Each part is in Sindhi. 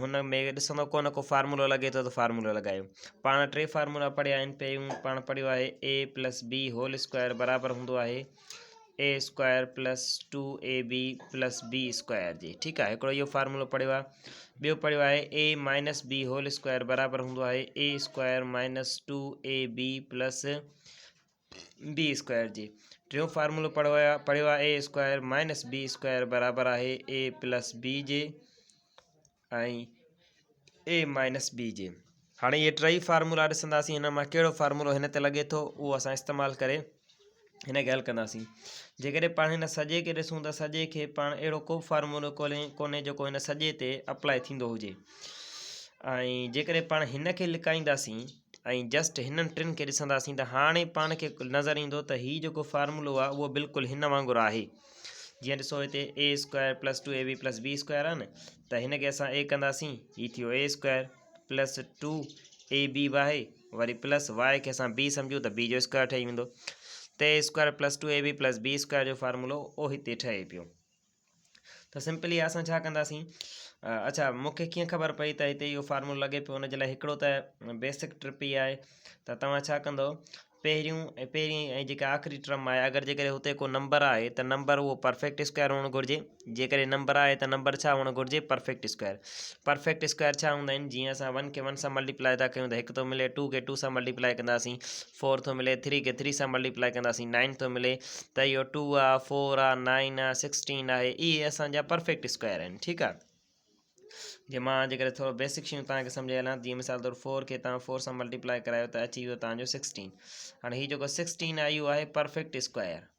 هن ۾ ڏسندو ڪونه ڪو فارمولو لڳي ٿو ته فارمولو لڳايو پاڻ ٽي فارمولا پڙهيا آهن پيون پاڻ پڙهيو آهي A plus B whole square برابر هوندو آهي A square plus two A B plus B square جي ٺيڪ آهي هڪڙو اهو فارمولو پڙهيو آهي ٻيو پڙهيو آهي A minus B whole square برابر هوندو آهي A square minus two A B plus B square جي ٽيون فارمولو پڙهيو آهي A square minus B square برابر آهي اي پلس بي جي ۽ اي مائنس بي جي هاڻي اهي ٽيئي فارمولا ڏسنداسين هن مان ڪهڙو فارمولو هن تي لڳي ٿو اهو اسان استعمال ڪري هن کي حل ڪنداسين جيڪڏهن پاڻ هن سڄي کي ڏسون ته سڄي کي پاڻ اهڙو ڪو به فارمولو کولي ڪونهي جيڪو هن سڄي تي اپلائي ٿيندو هجي ۽ جيڪڏهن پاڻ هن کي لڪائينداسين ۽ جسٽ هنن ٽن کي ڏسنداسين ته هاڻي پاڻ کي نظر ايندو ته هي جيڪو فارمولو آهي اهو بلڪل هن وانگر آهي جيئن ڏسو هتي A square plus two A B plus B square آهي نه ته هن کي اسان اي ڪنداسين هي ٿيو A square plus two A B به آهي وري پلس واء کي اسان بي سمجھون ته بي جو اسڪوائر ٺهي ويندو ته A square plus two A B plus B square جو فارمولو اهو هتي ٺهي پيو ته سمپلي اسان ڇا ڪنداسين اڇا مون کي ڪيئن خبر پئي ته هتي اهو فارمولو لڳي پيو ان جي لاء هڪڙو ته بيسڪ ٽرپ ئي آهي ته توهان ڇا ڪندو پهريون ۽ پهرين ۽ جيڪا آخري ٽرم آهي اگر جيڪڏهن هتي ڪو نمبر آهي ته نمبر اهو پرفيڪٽ اسڪوائر هئڻ گهرجي جيڪڏهن نمبر آهي ته نمبر ڇا هئڻ گهرجي پرفيڪٽ اسڪوائر پرفيڪٽ اسڪوائر ڇا هوندا آهن جيئن اسان ون کي ون سان ملٽيپلائي ٿا ڪيون ته هڪ ٿو ملي ٽو کي ٽو سان ملٽيپلائي ڪنداسين فور ٿو ملي ٿري کي ٿري سان ملٽيپلائي ڪنداسين نائن ٿو ملي ته اهو ٽو آهي فور آهي نائن آهي سڪسٽين آهي اهي اسانجا پرفيڪٽ اسڪوائر آهن ٺيڪ آهي جي مان جيڪڏهن ٿورو بيسڪ شيون تان کي سمجهائي هلان جي مثال طور فور کي تان فور سان ملٽيپلائي ڪرايو ته اچي ويو تان جو سڪسٽين هاڻي هي جيڪو سڪسٽين آهي اهو آهي پرفيڪٽ اسڪوائر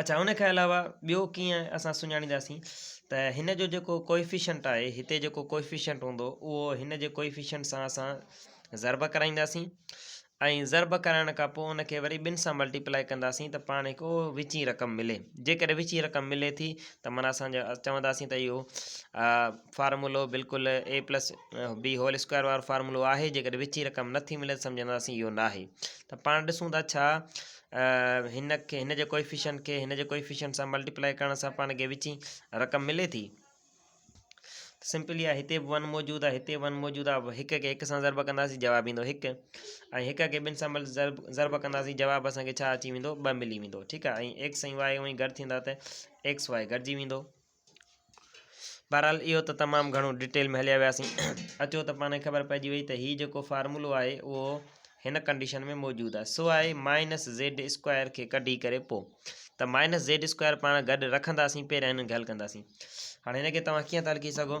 اڇا ان کان علاوه ٻيو ڪيئن اسان سڃاڻينداسين ته هن جو جيڪو ڪوئفيشنٽ آهي هتي جيڪو ڪوئفيشنٽ هوندو اهو هن جي ڪوئفيشنٽ سان اسان ضرب ڪرائينداسين ۽ ضرب ڪرائڻ کان پوء ان کي وري ٻن سان ملٽيپلائي ڪنداسين ته پاڻ هڪ اهو وچين رقم ملي جيڪڏهن وچين رقم ملي ٿي ته مانا اسانجا چونداسين ته اهو فارمولو بلڪل A plus B whole square وارو فارمولو آهي جيڪڏهن وچين رقم نٿي ملي ته سمجهنداسين اهو ناهي ته پاڻ ڏسون ٿا ڇا هن کي هن جي ڪوئيفيشنٽ کي هن جي ڪوئيفيشنٽ سان ملٽيپلائي ڪرڻ سان پاڻ کي وچين رقم ملي ٿي سمپلي آ هتي ون موجود آ هتي ون موجود آ هڪ کي هڪ سان ضرب ڪنداسين جواب ايندو هڪ ۽ هڪ کي ٻن سان ضرب ضرب ڪنداسين جواب اسان کي ڇا اچي ويندو ٻه ملي ويندو ٺيڪ آ ۽ ايڪس ۽ واء اوهين گڏ ٿيندا ته ايڪس واء گڏجي ويندو بهرحال اهو ته تمام گهڻو ڊيٽيل ۾ هليا وياسين اچو ته پاڻ کي خبر پئجي وئي ته هي جيڪو فارمولو آهي اهو هن ڪنڊيشن ۾ موجود آهي سو آهي مائنس زيڊ اسڪوائر کي ڪڍي ڪري پو ته مائنس زيڊ اسڪوائر پاڻ گڏ رکنداسين پهريان هنن کي حل ڪنداسين هاڻي هن کي توهان ڪيئن ٿا لکي سگهو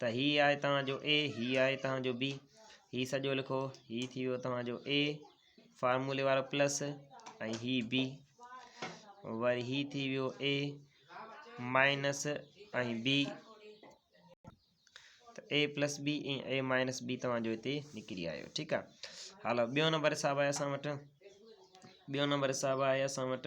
ته هي آهي توهان جو اي هي آهي توهان جو بي هي سڄو لکو هي ٿي ويو توهان جو اي فارمولي وارو پلس ۽ هي بي وري هي ٿي ويو A minus ۽ B A plus B ۽ A minus B توهان جو هتي نڪري آيو ٺيڪ آ هلو ٻيو نمبر حساب آهي اسان وٽ ٻيو نمبر حساب آهي اسان وٽ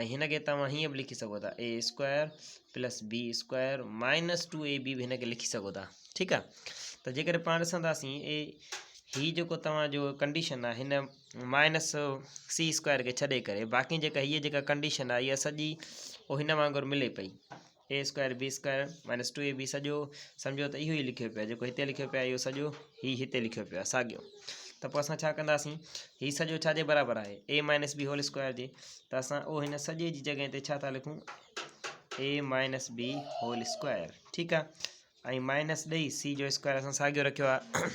۽ هن کي توهان هيئن به لکي سگهو ٿا A square plus B square minus two A B به هن کي لکي سگهو ٿا ٺيڪ آ ته جيڪڏهن پاڻ ڏسنداسين اي هي جيڪو توهان جو ڪنڊيشن آ هن مائنس سي اسڪوائر کي ڇڏي ڪري باقي جيڪا هيء جيڪا ڪنڊيشن آ هيء سڄي هن وانگر ملي پئي A square B square minus two A B سڄو سمجھو ته اهو ئي لکيو پيو جيڪو هتي لکيو پيو اهو سڄو هي هتي لکيو پيو آهي ساڳيو ته پوء اسان ڇا ڪنداسين هي سڄو ڇا جي برابر آهي A minus B whole square جي ته اسان او هن سڄي جي جڳهه تي ڇا ٿا لکون A minus B whole square ٺيڪ آهي ۽ مائنس ڏئي سي جو اسڪوائر اسان ساڳيو رکيو آهي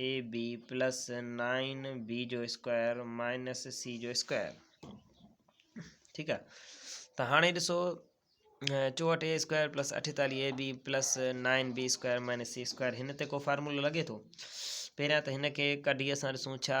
A B plus nine B جو اسڪوائر مائنس سي جو اسڪوائر ٺيڪ آ ته هاڻي ڏسو چوهٺ اي اسڪوائر پلس اٺيتالي A B plus nine B square minus C square هن تي کو فارمولو لڳي ٿو پهريان ته هن کي ڪڍي اسان ڏسون ڇا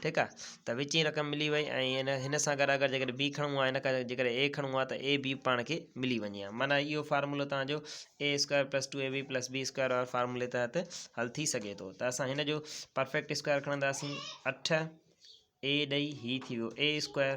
ٺيڪ آ ته وچين رقم ملي وئي ۽ هن سان گڏ اگر جيڪڏهن بي کڻون آ هن کان جي ڪڏهن اي کڻون آ ته اي بي پاڻ کي ملي وڃي آ معنيٰ اهو فارمولو توهان جو A square plus two A B plus B square واري فارمولي تحت حل ٿي سگهي ٿو ته اسان هن جو پرفيڪٽ اسڪوائر کڻنداسين اٺ اي ڏئي هي ٿي ويو اي اسڪوائر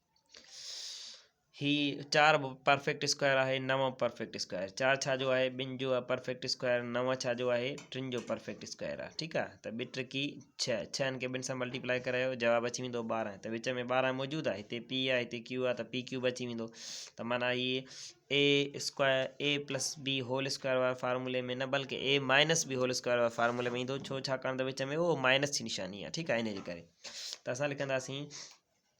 هي چار به پرفيڪٽ اسڪوائر آهي نو پرفيڪٽ اسڪوائر چار ڇا جو آهي ٻن جو آهي پرفيڪٽ اسڪوائر نو ڇا جو آهي ٽن جو پرفيڪٽ اسڪوائر آهي ٺيڪ آهي ته ٻي ٽرڪي ڇهه ڇهن کي ٻن سان ملٽيپلائي ڪرايو جواب اچي ويندو ٻارهن ته وچ ۾ ٻارهن موجود آهي هتي پي آهي هتي ڪيو آهي ته پي ڪيو به اچي ويندو ته مانا هي A square A plus B whole square وارا فارمولي ۾ نه بلڪه A minus B whole square وارا فارمولي ۾ ايندو ڇو ڇاڪاڻ ته وچ ۾ اهو مائنس جي نشاني آهي ٺيڪ آهي ان جي ڪري ته اسان لکنداسين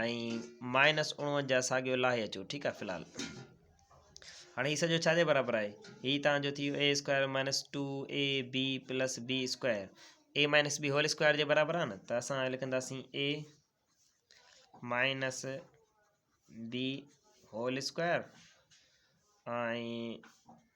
۽ مائنس اڻونجاهه ساڳيو لاهي اچو ٺيڪ آهي في الحال هاڻي هي سڄو ڇا جي برابر آهي هي تان جو ٿيو A square minus two A B plus B square A minus B whole square جي برابر آهي نه ته اسان لکنداسين A minus B whole square ۽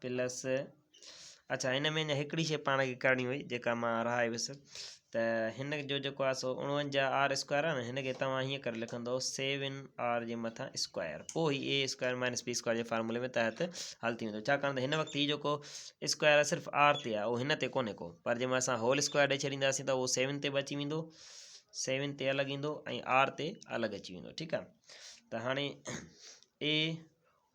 plus اچھا هن ۾ اڃا هڪڙي شي پاڻ کي ڪرڻي هئي جيڪا مان رهائي ويس ته هن جو جيڪو آهي سو اڻونجاهه آر اسڪوائر آهي نه هن کي توهان هيئن ڪري لکندو سيو ان آر جي مٿان اسڪوائر پوء هي A square minus B square جي فارمولي ۾ تحت حل ٿي ويندو ڇاڪاڻ ته هن وقت هي جيڪو اسڪوائر آهي صرف آر تي آهي اهو هن تي ڪونهي ڪو پر جنهن مهل اسان هول اسڪوائر ڏيئي ڇڏينداسين ته اهو سيون تي به اچي ويندو سيون تي الڳ ايندو ۽ آر تي الڳ اچي ويندو ٺيڪ آهي ته هاڻي اي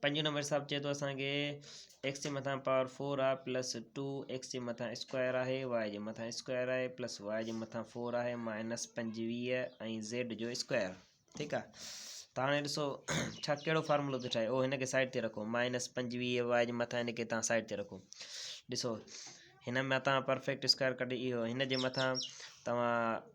پنجون نمبر حساب چئي ٿو اسان کي ايڪس جي مٿان پاور فور آ پلس ٽو ايڪس جي مٿان اسڪوائر آهي وائي جي مٿان اسڪوائر آهي پلس وائي جي مٿان فور آهي مائنس پنجويهه ۽ زيڊ جو اسڪوائر ٺيڪ آ ته هاڻي ڏسو ڇا کيڑو فارمولو ٿو ٺاهي او هن کي سائيڊ تي رکو مائنس پنجويهه وائي جي مٿان هن کي تان سائيڊ تي رکو ڏسو هن مٿان پرفيڪٽ اسڪوائر ڪڍي اهو هن جي مٿان توهان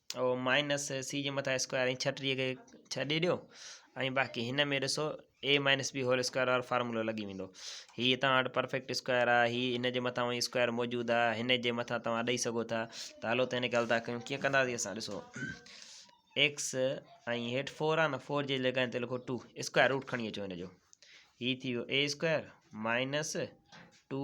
او مائنس سي جي مٿان اسڪوائر ۽ ڇٽيهه کي ڇهه ڏي ڏيو ۽ باقي هن ۾ ڏسو A minus B whole square وارو فارمولو لڳي ويندو هي تان وٽ پرفيڪٽ اسڪوائر آهي هي هن جي مٿان وئي اسڪوائر موجود آهي هن جي مٿان تان ڏئي سگهو ٿا ته هلو ته هن کي هلدا ڪيون ڪيئن ڪنداسي اسان ڏسو ايڪس ۽ هيٺ فور آهي نه فور جي لڳائن تي لکو ٽو اسڪوائر روٽ کڻي اچو هن جو هي ٿي ويو A square minus two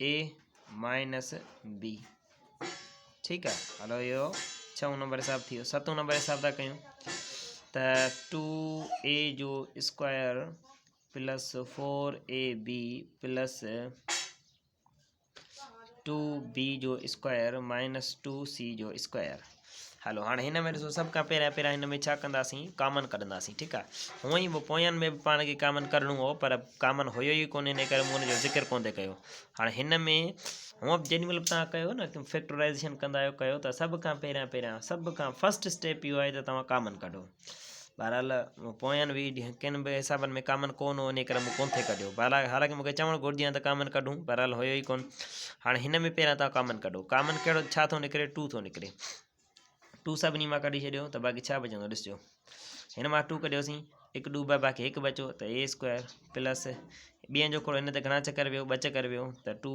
A minus B ٺيڪ آ هلو اهو ڇهون نمبر حساب ٿي ويو ستون نمبر حساب ٿا ڪيون ته ٽو اي جو square plus four A B plus two B جو اسڪوائر مائنس ٽو سی جو اسڪوائر هلو هاڻي هن ۾ ڏسو سڀ کان پهريان پهريان هن ۾ ڇا ڪنداسين ڪامن ڪڍنداسين ٺيڪ آ هونء ئي پوين ۾ به پاڻ کي ڪامن ڪڍڻو هو پر ڪامن هيو ئي ڪونه ان ڪري مون ان جو ذڪر ڪونه ڪيو هاڻي هن ۾ هونء به جيڏي مهل به توهان ڪيو نه فيڪٽورائزيشن ڪندا آهيو ڪيو ته سڀ کان پهريان پهريان سڀ کان فسٽ اسٽيپ اهو آهي ته توهان ڪامن ڪڍو بھرحال مون پوئين ويھه ڏينھن ڪن به حسابن ۾ ڪامن ڪون ھو انھي ڪري مون ڪون ٿي ڪڍيو بھرحال حالانڪ مونکي چوڻ گھرجي ھا ته ڪامن ڪڍون بھرحال ھيو ئي ڪون ھاڻي ھن ۾ پھريان تان ڪامن ڪڍو ڪامن ڪھڙو ڇا ٿو نڪري ٽو ٿو نڪري ٽو سڀني مان ڪڍي ڇڏيو ته باقي ڇا بچندو ڏسجو ھن مان ٽو ڪڍيوسين ھڪ ڏو ٻه باقي ھڪ بچو ته اي اسڪوائر پلس ٻين جو ڪھڙو ھن ته گھڻا چڪر ويو ٻه چڪر ويو ته two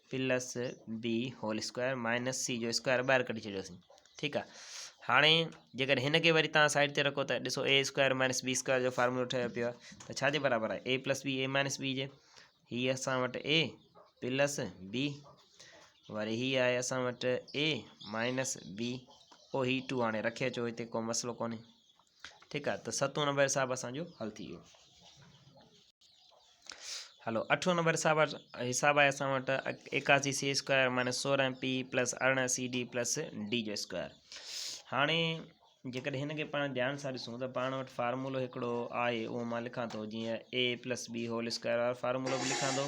plus B whole square minus C جو اسڪوائر ٻاهر ڪڍي ڇڏيوسين ٺيڪ آ هاڻي جيڪڏهن هن کي وري تان سائيڊ تي رکو ته ڏسو A square minus B square جو فارمولو ٺهيو پيو آهي ته ڇا جي برابر آهي A plus B A minus B جي هي اسان وٽ اي پلس بي وري هي آهي اسان وٽ اي مائنس بي او هي ٽو هاڻي رکي اچو هتي ڪو مسئلو ڪونهي ٺيڪ آ ته ستون نمبر حساب اسان جو حل ٿي ويو هلو اٺون نمبر حساب حساب آهي اسان وٽ ايڪاسي سي اسڪوائر مائنس سورهن پي پلس ارڙهن سي ڊي پلس ڊي جو اسڪوائر هاڻي جيڪڏهن هن کي پاڻ ڌيان سان ڏسون ته پاڻ وٽ فارمولو هڪڙو آهي اهو مان لکان ٿو جيئن A plus B whole square وارو فارمولو به لکان ٿو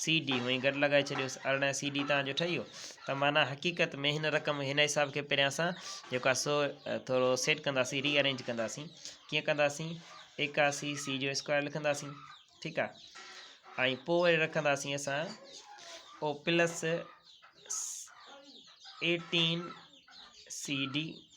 سي ڊي هونئن گڏ لڳائي ڇڏيوس ارڙهن سي ڊي تان جو ٺهي ويو ته معنيٰ حقيقت ۾ هن رقم هن حساب کي پريان اسان جيڪو آهي سو ٿورو سيٽ ڪنداسين ري ارينج ڪنداسين ڪيئن ڪنداسين ايڪاسي سي جو اسڪوائر لکنداسين ٺيڪ آهي ۽ پوء وري رکنداسين اسان او پلس ايٽين سی ڊي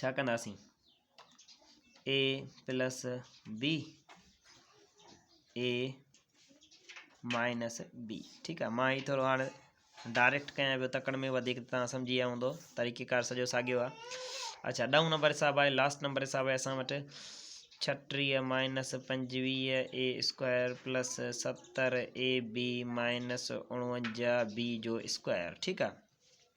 ڇا ڪنداسين A plus B A minus B ٺيڪ آ مان هي ٿورو هاڻ ڊائريڪٽ ڪيان پيو تڪڙ ۾ وڌيڪ تان سمجهي ويا هوندو طريقي ڪار سڄو ساڳيو آ اچھا ڏهون نمبر حساب آهي لاسٽ نمبر حساب آهي اسان وٽ ڇٽيهه مائنس پنجويهه اي اسڪوائر پلس ستر اي بي مائنس اڻونجا بي جو اسڪوائر ٺيڪ آ